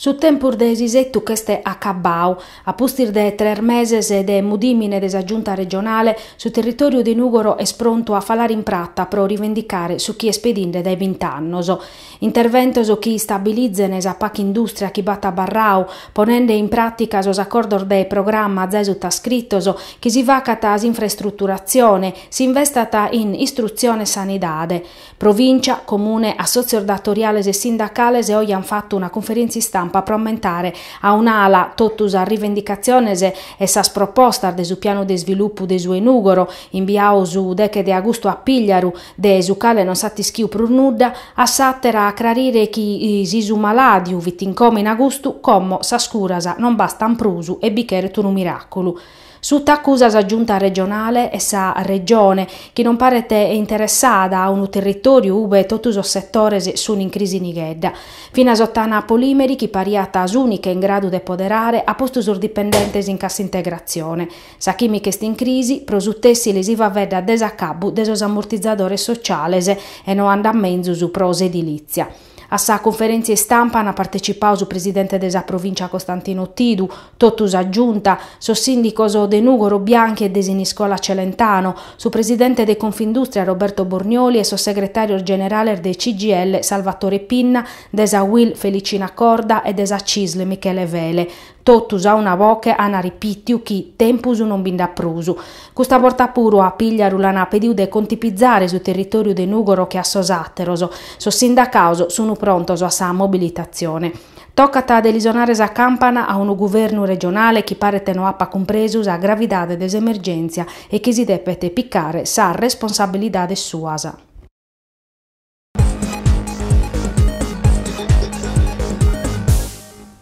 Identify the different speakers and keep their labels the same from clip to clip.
Speaker 1: Su tempus de s'isettu ch'est acabbau. A pustis de tres meses de mudìmine de sa Giunta regionale, su territòriu de Nùgoro est prontu a falare in prata pro rivendicare su chi est pedinde dae bint'annos. Interventos chi istabilizene sa paca indùstria chi b'at abarrau, ponende in pràtica sos acordos de programma zae sutascritos, chi si facat s'infraestruturatzione, si investat in istrutzione e sanidade. Provìncia, Comune, assòtzios datoriales e sindacales oje ant fatu una cunferèntzia istampa pro ammentare a un'ala totu sas rivendicatziones e sas propostas de su pianu de isvilupu de su 'e Nùgoro, imbiau su deche de agustu a Pìgliaru, de su cale non s'at ischiu prus nudda, a s'àtera a aclarire chi si su malàdiu fit in coma in agustu, como sas curas non bastant prus e bi cheret unu miràculu. Suta acusa sa Giunta regionale e sa Regione, chi non paret interessada a unu territòriu ube totu sos setores sunt in crisi nighedda. Finas Ottana Polimeri, chi pariat s'ùnica in gradu de poderare, at postu sos dipendentes in cassa integratzione. Sa chìmica est in crisi, pro su tèssile si faveddat de s'acabbu de sos ammortizadores sociales e no andat menzus pro s'edilìtzia. A sa cunferèntzia istampa ant partecipau su presidente de sa Provìncia Costantino Tidu, totu sa Giunta, sos sìndicos de Nùgoro Bianchi e de Siniscola Celentano, su presidente de Confindùstria Roberto Bornioli e sos segretàrios generales de CGIL Salvatore Pinna, de sa UIL Felicina Corda e de sa CISL Michele Fele. Totus a una boche ana ripìtiu chi tempus non bi nd'at prus. Custa borta puru a Pìgliaru l'ana pediu de contipizare su territòriu de Nùgoro che a sos àteros. Sos sindacaos sunu prontos a sa mobilitatzione. Tocat de li sonare sa campana a unu guvernu regionale chi paret no apat cumpresu sa gravidade de s'emergèntzia e chi si depet picare sas responsabilidades suas.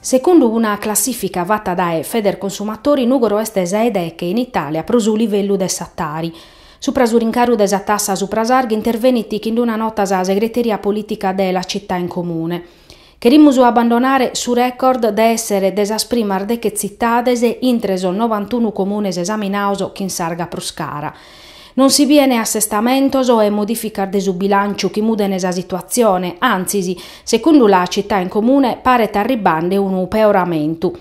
Speaker 1: Secundu una classìfica fata dae Federconsumatori Nùgoro est sa 'e deche in Itàlia pro su livellu de sa Tari. Supra su rincaru de sa tassa supra s'arga intervenit chind'una nota sa segreteria polìtica de La Città in Comune. Cherimus abbandonare su record de èssere de sas primas deche tzitades intre sos novantunu comunes esaminados chin s'arga prus cara. Non si biene assestamentos e modìficas de su bilànciu chi mudene sa situatzione, antzis, secundu La Città in Comune, paret arribbande unu peoramentu.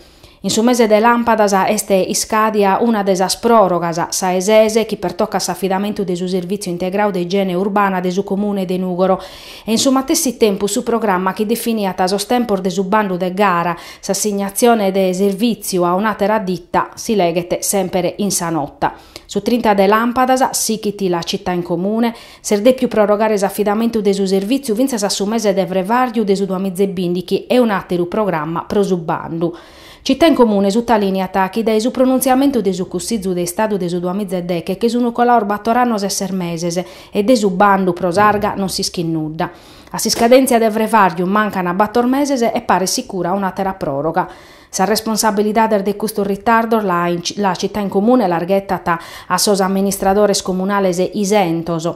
Speaker 1: In su mese de làmpadas est iscàdia una de sas pròrogas, sa 'e ses, chi pertocat s'afidamentu de su Servìtziu Integrau de Igiene Urbana de su Comune de Nùgoro, e in su matessi tempus su programma chi definiat sos tempos de su bandu de gara, s'assignatzione de servìtziu a un'àtera ditta, si leghet semper in sa nota. Su trinta de làmpadas, sichit La Città in Comune, S'est dèpiu prorogare s'afidamentu de su servìtziu fintzas a su mese de frevàrriu de su duamitzebìndighi e un'àteru programma pro su bandu. Città in Comune sutalìniat chi dae su pronuntziamentu de su Cussìgiu de Istadu de su duamitzedeghe che sunt colaos bator annos e ses meses e de su bandu pro s'arga non s'ischit nudda. A s'iscadèntzia de frevàrriu mancan bator meses e paret sicura un'àtera pròroga. Sas responsabilidades de custos ritardos la Città in Comune las ghetat a sos amministradores comunales isentos.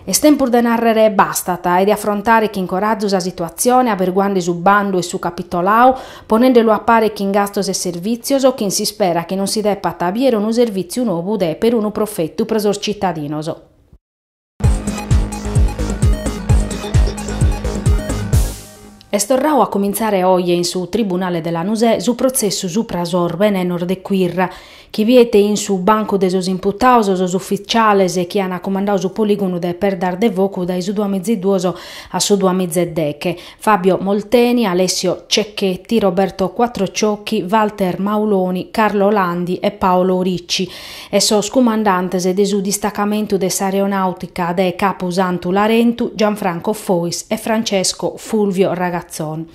Speaker 1: Est tempus de nàrrere bastat e de afrontare chin corazu sa situatzione averguande su bandu e su capitolau, ponendelu a pare chin gastos e servìtzios, chin s'ispera chi non si depat aviare unu servìtziu novu de perunu profetu pro sos citadinos. Est torrau a comintzare oje in su Tribunale de Lanusè su protzessu supra sos benenos de Quirra, chi biet in su bancu de sos imputados sos ufitziales chi ant cumandadu su polìgonu de Perdas de Focu dae su duamitzeduos a su duamitzedeghe. Fabio Molteni, Alessio Cecchetti, Roberto Quattrociocchi, Walter Mauloni, Carlo Landi e Paolo Ricci e sos cumandantes de su distacamentu de s'aeronàutica de Capu Santu Larentu, Gianfranco Fois e Francesco Fulvio Ragazzon.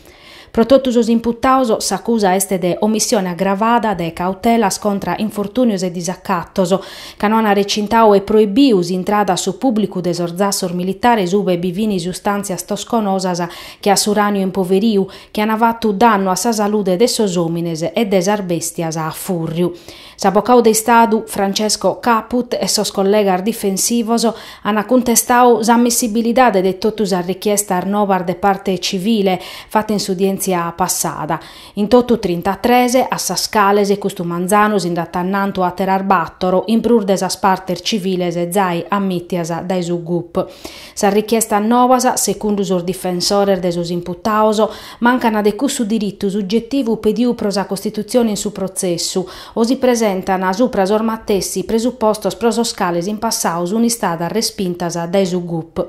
Speaker 1: Pro totu sos imputaos s'acusa est de omissione agravada de cautelas contra infortùnios e disacatos, ca no an recintau e proibiu s'intrada a su pùblicu de sos zassos militares ube bi fin sustàntzias tosconosas che a s'uràniu impoveriu, chi an fatu dannu a sa salude de sos òmines e de sas bèstias a fùrriu. S'avocau de Istadu Francesco Caput e sos collegas difensivos an cuntestadu s'ammissibilidade de totu sas richiestas novas de parte civile fata in s'udièntzia passada, In totu trintatres, a sas cales custu manzanu si nd'at annantu àteras bàtoro in prus de sas partes civiles zai ammìtias dae su gup. Sas richiestas novas, segundu sos difensores de sos imputaos, mancana de cussu diritu sugetivu pediu pro sa costitutzione in su protzessu o si presentana supra sos matessi presupostos pro sos cales in passau sun istadas respintas dae su gup.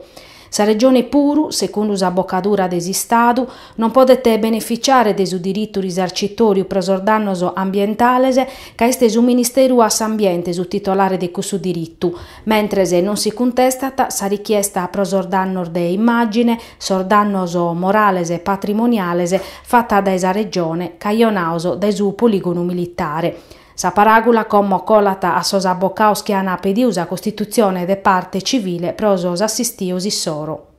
Speaker 1: Sa Regione puru, segundu s'abocadura de s'Istadu, non podet beneficiare de su diritu risarcitòriu pro sos dannos ambientales ca est su Ministeru a s'Ambiente su titolare de cussu diritu, mentres non si cuntestat sa richiesta pro sos dannos de immàgine, sos dannos morales e patrimoniales fata dae sa Regione cajonaos dae su polìgonu militare. Sa paràgula como colat a sos abbocaos chi an pediu sa costitutzione de parte civile pro sos assistios issoro.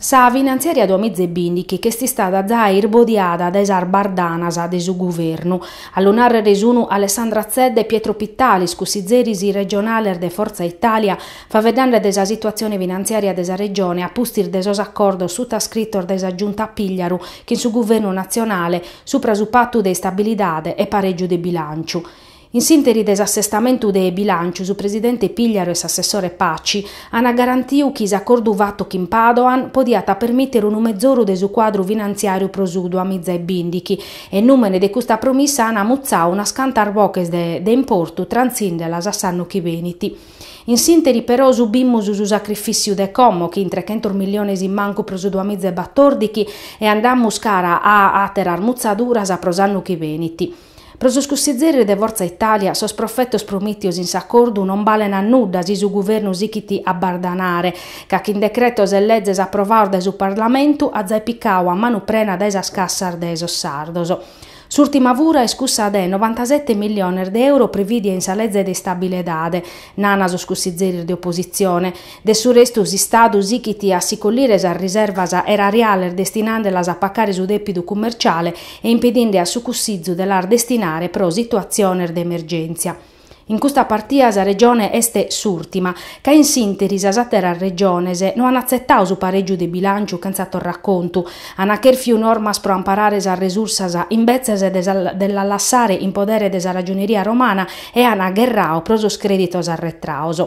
Speaker 1: Sa finantziària duamiza e bìndighi ch'est istada zai irbodiada dae sas bardanas de su guvernu, a lu nàrrere sunu Alessandra Zedda e Pietro Pittalis, cussizeris regionales de Fortza Italia, Faveddande de sa situatzione finantziària de sa Regione a pustis de sos acordos sutascritos dae sa Giunta Pigliaru chin su Guvernu natzionale supra su Patu de istabilidade e parègiu de bilànciu. In s'ìnteri de s'assestamentu de bilànciu su presidente Pigliaru e s'assessore Paci ant garantiu chi s'acordu fatu chin Padoan podiat permìtere unu mezoru de su cuadru finantziàriu pro su duamiza e bìndighi e in nùmene de custa promissa ant mutzau unas cantas boches de importu trantzìndelas a s'annu chi benit. In s'ìnteri però subimus su sacrifìtziu de como, chin trechentos milliones in mancu pro su duamiza e batordighi, e andamus cara a àteras mutzaduras pro s'annu chi benit. Pro sos cussizeris de Fortza Italia sos profetos promìtios in s'acordu non balen a nudda si su Guvernu sichit a bardanare, ca chin decretos e lezes aprovaos dae su Parlamentu at zai picau a manu prena dae sas cassas de sos sardos. S'ùrtima fura est cussa de novantasete milliones de euro privìdia in sa leze de istabiledade, nana sos cussizeris de opositzione. De su restu s'Istadu sichit a si collire sas riservas erariales destinandelas a pacare su dèpidu cummerciale e impedinde a su Cussizu de las destinare pro situatziones de emergèntzia. In custa partia sa Regione est s'ùrtima, ca in s'ìnteri sas àteras Regiones no an atzetau su parègiu de bilànciu chentza torracontu, an chèrfiu normas pro amparare sas resursas imbetzes de de las lassare in podere de sa Ragioneria romana e an agherrau pro sos crèditos arretraos.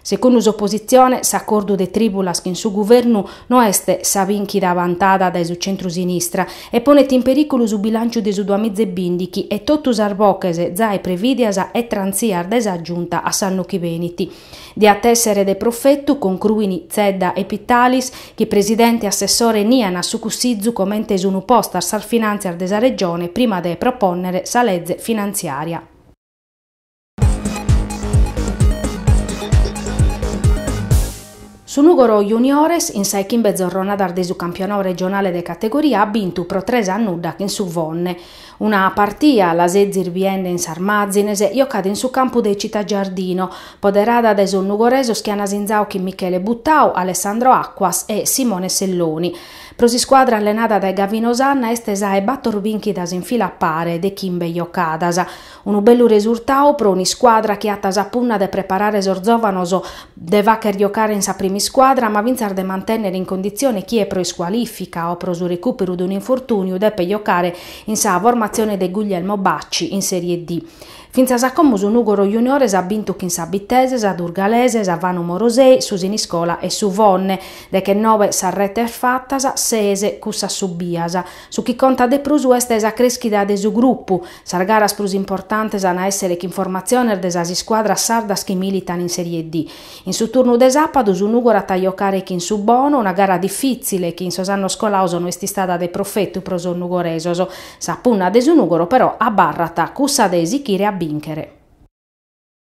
Speaker 1: Secundu s'opositzione, s'acordu de trìbulas chin su guvernu no est sa bìnchida bantada dae su centru-sinistra e ponet in perìculu su bilànciu de su duamiza e bìndighi e totu sas boches zai prevìdias e trantzias dae sa Giunta a s'annu chi benit. Diat a èssere de profetu, concruin Zedda e Pittalis, chi presidente e assessore nian a su Cussizu comente sun postas sas finàntzias de sa Regione prima de propònnere sa leze finantziària. Su Nùgoro Juniores, in sa 'e chimbe zorronadas de su campionau regionale de categoria at bintu pro tres a nudda chin su Fonne. Una partia, la sezis biende in sas màzines, jocada in su campu de Città Giardino, poderada dae sos nugoresos chi an asinzau chin Michele Buttau, Alessandro Acquas e Simone Selloni. Pro s'iscuadra allenada dae Gavino Sanna est sa 'e bator binchidas in fila a pare de chimbe jocadas. Unu bellu resurtau pro un'iscuadra chi at sa punna de preparare sos zòvanos, de fagher giocare in sa primiscuadra ma fintzas de mantènnere in conditzione chie pro iscualìfica o pro su recùperu de un'infortùniu depet giocare in sa formatzione de Guglielmo Bacci in Sèrie D. Fintzas a como su Nùgoro Juniores at bintu chin sa Bitese, sa Durgalese, sa Fanum Orosei, su Siniscola e su Fonne, deghennoe sas retes fatas, ses cussas subias. Su chi contat de prus est sa crèschida de su grupu, Sas garas prus importantes an a èssere chin formatziones de sas iscuadras sardas chi militan in Serie D. In su turnu de sàpadu su Nùgoro at a jocare chin su Bono, una gara difìtzile chi in sos annos colados no est istada de profetu pro sos nugoresos. Sa punna de su Nùgoro però abarrat cussa de sichire a bìnchere.